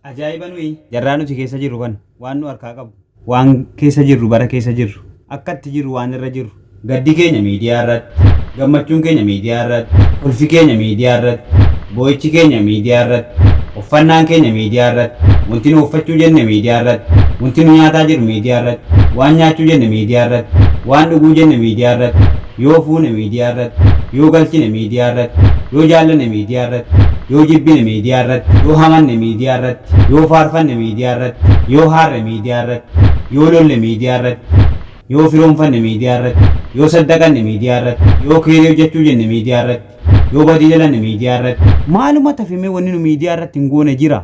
Ajaa'iba nuyi jarraa nuti keessa jirru kan waan nu harkaa qabu waan keessa jirru bara keessa jirru akka itti jirru waan irra jirru gaddi keenya miidiyaa irratti gammachuun keenya miidiyaa irratti kolfi keenya miidiyaa irratti boo'ichi keenya miidiyaa irratti uffannaan keenya miidiyaa irratti wanti nu uffachuu jenne miidiyaa irratti wanti nu nyaataa jirru miidiyaa irratti waan nyaachuu jenne miidiyaa irratti waan dhuguu jenne miidiyaa irratti Yoo fuune miidiyaa irratti, yoo galchine miidiyaa irratti, yoo jaallanne miidiyaa irratti, yoo jibbine miidiyaa irratti, yoo hamanne miidiyaa irratti, yoo faarfanne miidiyaa irratti, yoo haarre miidiyaa irratti, yoo lolle miidiyaa irratti, yoo firoomfanne miidiyaa irratti, yoo saddaqanne miidiyaa irratti, yoo keeyrii hojjachuu jenne miidiyaa irratti, yoo badii dalanne miidiyaa irratti. Maaluma tafe mee wanni nu miidiyaa irratti hin goone jira?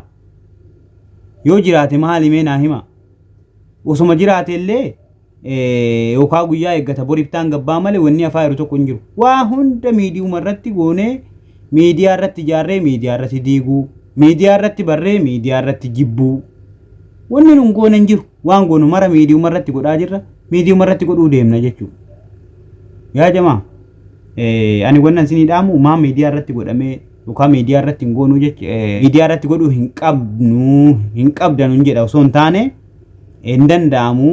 Yoo jiraate maali mee naa himaa? Osoma jiraate illee yookaa guyyaa eeggata boriftaan gabbaa malee wanni afaa jiru tokko hin jiru. Waa hunda miidiyuma irratti goonee miidiyaa irratti ijaarree miidiyaa irratti diiguu miidiyaa irratti barree miidiyaa irratti jibbuu wanni nun goone hin jiru waan goonu mara miidiyuma irratti godhaa jirra miidiyuma irratti godhuu deemna jechuudha. Yaa jamaa ani wanna isinii dhaamu maa miidiyaa irratti godhamee yookaan miidiyaa irratti hin goonuu jechuudha miidiyaa irratti godhuu hin qabnu hin qabdanu hin jedha osoo hin taane. hin danda'amu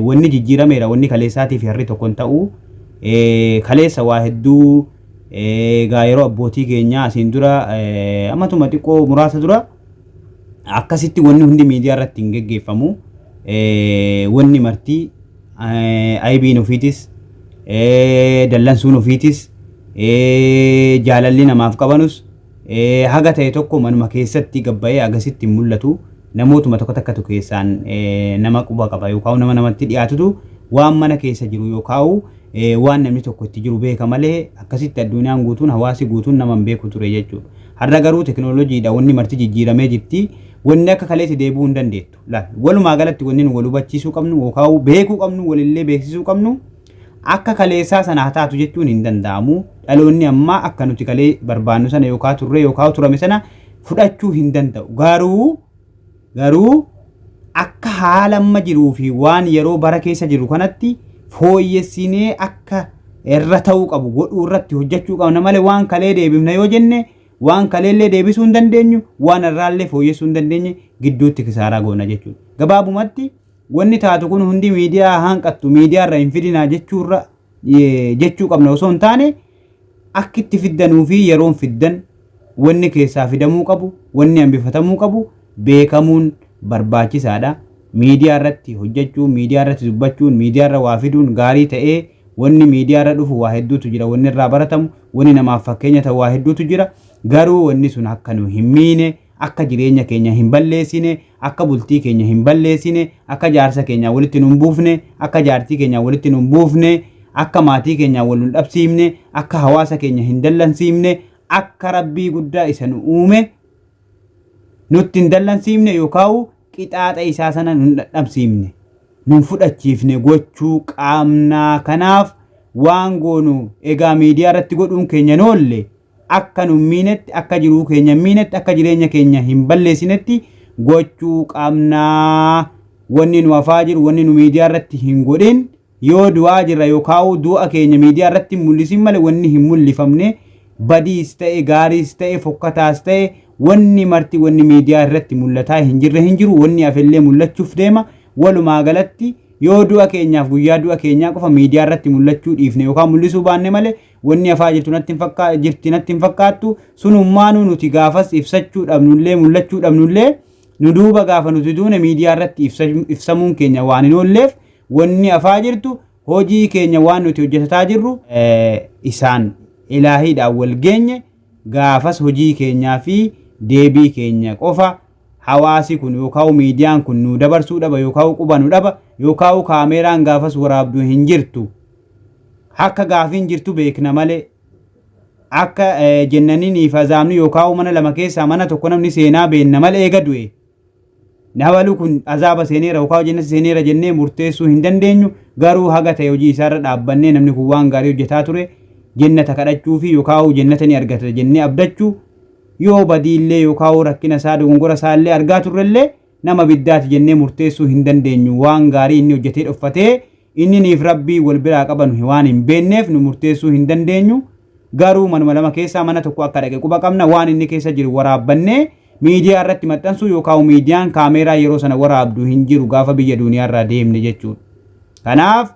wanni jijjiirameera wanni kaleessaatii fi harri tokko hin ta'u kaleessa waa hedduu egaa yeroo abbootii keenyaa asiin dura ammatuma xiqqoo muraasa dura akkasitti wanni hundi miidiyaa irratti hin geggeeffamu wanni martii aybiin ofiitis dallansuun ofiitis jaalalli namaaf qabanus Haga ta'e tokko manuma keessatti gad ba'ee agasitti hin mul'atu. Namootuma tokko takkatu keessaan nama quba qaba yookaan nama namatti dhiyaatutu waan mana keessa jiru yookaan waan namni tokko itti jiru beeka malee akkasitti addunyaan guutuun hawaasi guutuun nama hin beeku ture jechuudha. Har'a garuu tekinooloojiidha wanni marti jijjiiramee jirti. Wanni akka kaleetti deebi'uu hin dandeettu. Walumaa galatti wanni nu wal hubachiisuu qabnu yookaan beekuu qabnu walillee beeksisuu qabnu Akka kaleessaa sana haa taatu jechuun hin danda'amu. Dhaloonni ammaa akka nuti kalee barbaannu sana yookaan turree yookaan turame sana fudhachuu hin danda'u. Garuu garuu akka haala amma jiruu fi waan yeroo bara keessa jiru kanatti fooyyessinee akka irra ta'uu qabu godhuu irratti hojjechuu qabna malee waan kalee deebifna yoo jenne waan kaleellee deebisuu hin dandeenyu waan irraallee fooyyessuu hin dandeenye gidduutti kisaaraa goona jechuudha. Gabaabumatti Wanni taatu kun hundi miidiyaa haa hanqattu, miidiyaa irra hin fidinaa jechuu irra eh, jechuu qabna osoo hin taane akki itti fiddanuu fi yeroon fiddan wanni keessaa fidamuu qabu, wanni hambifatamuu qabu beekamuun barbaachisaadha. Miidiyaa irratti hojjechuun, miidiyaa irratti dubbachuun, miidiyaa irra waa fiduun gaarii ta'ee wanni miidiyaa irra dhufu waa hedduutu jira, wanni irraa baratamu, wanni namaaf fakkeenya ta'u waa hedduutu jira. Garuu wanni sun akka nu hin miine akka jireenya keenya hin balleessine, akka bultii keenya hin balleessine, akka jaarsa keenyaa walitti nu hin buufne, akka jaartii keenyaa walitti nu hin buufne, akka maatii keenyaa wal nu hin dhabsiifne, akka hawaasa keenya hin dallansiifne, akka Rabbii guddaa isa nu uume nutti hin dallansiifne yookaan qixaaxa isaa sana nu hin dhadhamsiifne, nu hin fudhachiifne gochuu qaamnaa kanaaf waan goonu egaa miidiyaa irratti godhuun keenya hin oolle. akka nu hin miinetti, akka jiruu keenya hin miinetti, akka jireenya keenya hin balleessinetti gochuu qabna. Wanni nu hafaa jiru, wanni nu miidiyaa irratti hin godhin, yoo du'aa jirra yookaa'uu du'a keenya miidiyaa irratti hin mul'isin malee wanni hin mul'ifamne badiis ta'e, gaariis ta'e, fokkataas ta'e wanni marti wanni miidiyaa irratti mul'ataa hin jirre hin jiru, wanni hafellee mul'achuuf deema. Walumaa galatti yoo du'a keenyaaf guyyaa du'a keenyaa qofa miidiyaa irratti mul'achuu dhiifne yookaan mul'isuu baanne malee Wanni hafaa jirtu natti hin fakkaa, jirti natti hin fakkaattu. Sunummaanuu nuti gaafas ibsachuu dhabnullee, mul'achuu dhabnullee, nu duuba gaafa nuti duune miidiyaa irratti ibsa, ibsamuun keenya waan hin oolleef wanni hafaa jirtu hojii keenya waan nuti hojjetataa jirru eh, isaan ilaahiidhaan wal geenye gaafas hojii keenyaa fi deebii keenya qofa hawaasi kun yookaan miidiyaan kun nu dabarsuu dhaba yookaan quba nu dhaba yookaan kaameeraan gaafas waraabdu hin jirtu. Akka gaafiin jirtu beekna malee akka jennaniinii fi azaabni yookaa'uu mana lama keessaa mana tokko namni seenaa beenna malee eega du'e nabalu kun azaaba seeneera yookaa jennata seeneera jennee murteessuu hin dandeenyu garuu haga ta'e hojii isaarra dhaabbannee namni kun waan gaarii hojjetaa ture jennata kadhachuu fi yookaa'uu jennata ni argata jennee abdachuu yoo badiillee yookaa'uu rakkina isaa dogongora isaa illee argaa turrellee nama biddaati jennee murteessuu hin dandeenyu waan gaarii inni hojjetee dhoffatee Inni niif Rabbii wal biraa qabanu hi waan hin beenneef nu murteessuu hin dandeenyu, garuu manuma lama keessaa mana tokko akka dhaqe quba qabna, waan inni keessa jiru waraabbannee miidiyaa irratti maxxansuu yookaawu miidiyaan kaameeraa yeroo sana waraabdu hin jiru gaafa biyya duuniyaa irraa deemne jechuudha. Kanaaf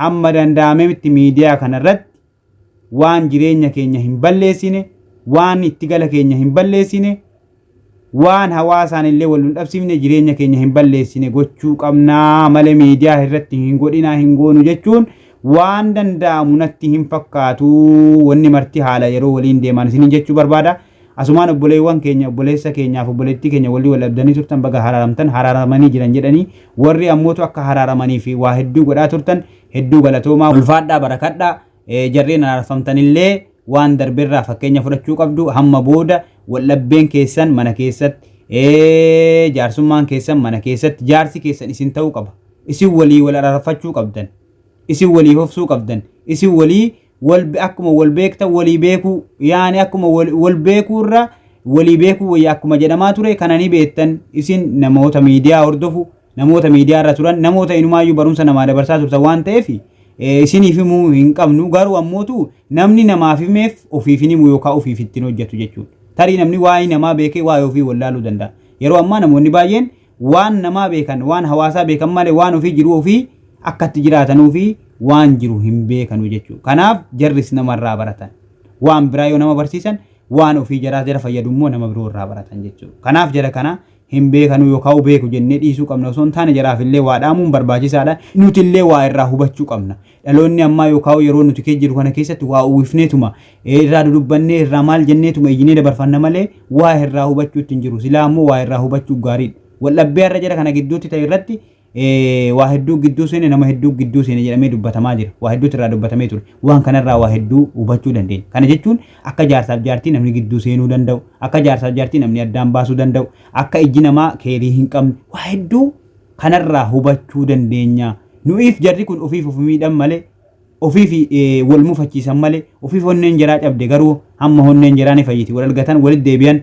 hamma danda'ametti miidiyaa kana irratti waan jireenya keenya hin balleessine, waan itti gala keenya hin balleessine, waan hawaasaan illee wal nun dhabsiifne jireenya keenya hin balleessine gochuu qabna male miidiyaa irratti hin godhina hin goonu jechuun waan danda'amu natti hin fakkaatu wanni marti haala yeroo waliin deemaan isiniin jechuu barbaada asumaan obboleewwan keenya obboleessa keenyaaf obboleettii keenya walii wal dhabdanii turtan baga haraaramtan haraaramanii jiran jedhanii warri ammootu akka haraaramanii fi waa hedduu godhaa turtan Hedduu galatoomaa ulfaadhaa barakadha jarreen araarfamtanillee waan darberraa fakkeenya fudhachuu qabdu hamma booda waldhabbeen keessan mana keessatti jaarsummaan keessan mana keessatti jaarsi keessan isin ta'uu qaba isin walii wal araarfachuu qabdan isin walii hofsuu qabdan isin walii wal akkuma wal beektan walii beekuu yaani akkuma wal wal beekuu irra walii beekuu wayya akkuma jedhamaa ture kana ni beektan isin namoota miidiyaa hordofu namoota miidiyaa irra turan namoota inumaayyuu barumsa namaa dabarsaa turtan waan ta'eef eh, isiniif himuu hin qabnu garuu ammootu namni namaaf himeef ofiif hin himu yookaan ofiif ittiin hojjetu jechuudha. Tarii namni waa'ee namaa beekee waa'ee ofii wallaaluu danda'a. Yeroo ammaa namoonni baay'een Waan namaa beekan, waan hawaasaa beekan malee waan ofii jiruu ofii akka itti jiraatanuu fi waan jiru hin beekanu jechuudha. Kanaaf jarris nama irraa baratan. Waan biraa yoo nama barsiisan waan ofii jaraa jara fayyadu immoo nama biroo irraa baratan jechuudha. Kanaaf jara kana hin beekanuu yookaan beeku jennee dhiisuu qabna osoo hin taane jaraaf illee waa dhaamuun barbaachisaadha. Nuti illee waa irraa hubachuu qabna. Dhaloonni ammaa yookaa yeroo nuti keessa jirru kana keessatti waa uwwifneetuma, irraa dudubbannee, irraa maal jenneetuma iyyinee dabarfanna malee waa irraa hubachuutti hin jiru. Silaa ammoo waa irraa hubachuu gaariidha. Waldhabbee har'a jara kana gidduutti ta'e irratti waa hedduu gidduu seene, nama hedduu gidduu seene jedhamee dubbatamaa jira. Waa hedduutu irraa dubbatamee ture. Waan kanarraa waa hedduu hubachuu dandeenya. Kana jechuun akka jaarsaaf jaartii namni gidduu seenuu danda'u, akka jaarsaaf jaartii namni addaan baasuu danda'u, akka ijji namaa keerii hin qabne waa hedduu kanarraa hubachuu dandeenya. Nu'iif jarri kun ofiif of miidhan malee ofiif wal mufachiisan malee ofiif honneen jaraa cabde garuu hamma honneen jaraa ni fayyiti wal argatan walitti deebi'an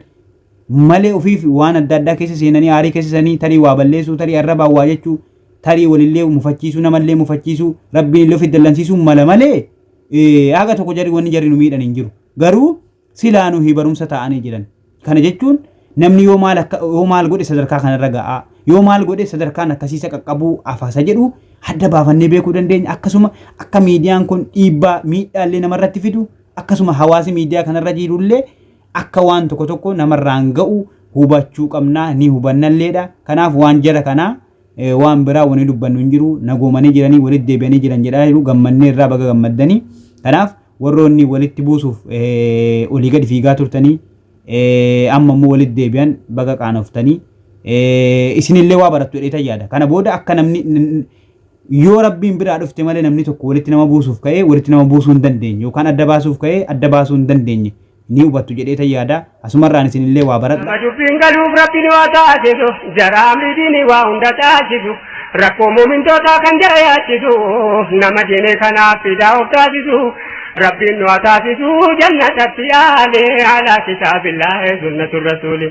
malee ofiif waan adda addaa keessa seenanii aarii keessa sanii tarii waa balleessuu tarii arrabaa waa jechuu tarii walillee mufachiisuu namallee mufachiisuu rabbiin illee ofiif dallansiisuu mala malee haga tokko jarri wanni jarri nu miidhan hin jiru garuu Silaa nuhi barumsa ta'anii jiran. Kana jechuun namni yoo maal akka yoo maal godhe sadarkaa kanarra ga'a yoo maal godhe sadarkaan akkasiisa qaqqabuu afaasa jedhu adda baafannee beekuu dandeenya akkasuma akka miidiyaan kun dhiibbaa miidhaallee namarratti fidu akkasuma hawaasi miidiyaa kanarra jirullee akka waan tokko tokko namarraan ga'u hubachuu qabnaa ni hubannalleedha kanaaf waan jara kanaa eh, waan biraa wani dubbannu hin jiru nagoomanii jiranii walitti deebi'anii jiran jedhaa jiru gammannee irraa baga gammaddanii kanaaf Warroonni walitti buusuuf olii gadi fiigaa turtanii amma immoo walitti deebi'an baga qaanoftanii isinillee waa barattu jedheetan yaada. Kana booda akka namni yoo rabbiin biraa dhufte malee namni tokko walitti nama buusuuf ka'ee walitti nama buusuu hin dandeenye yookaan adda baasuuf ka'ee adda baasuu hin dandeenye. ni hubattu jedheetan yaada. Asumarraan isinillee waa baradha. Nama dubbiin galuuf Rabbiin waa taasisu, jara amri diinii waa hunda taasisu, rakkoo muumintootaa kan jara yaachisu, nama diinee kanaaf fidaa of taasisu, Rabbiin nu haa taasisu jannatatti yaale, alaa kitaabillaahi sunnatu rasuuli.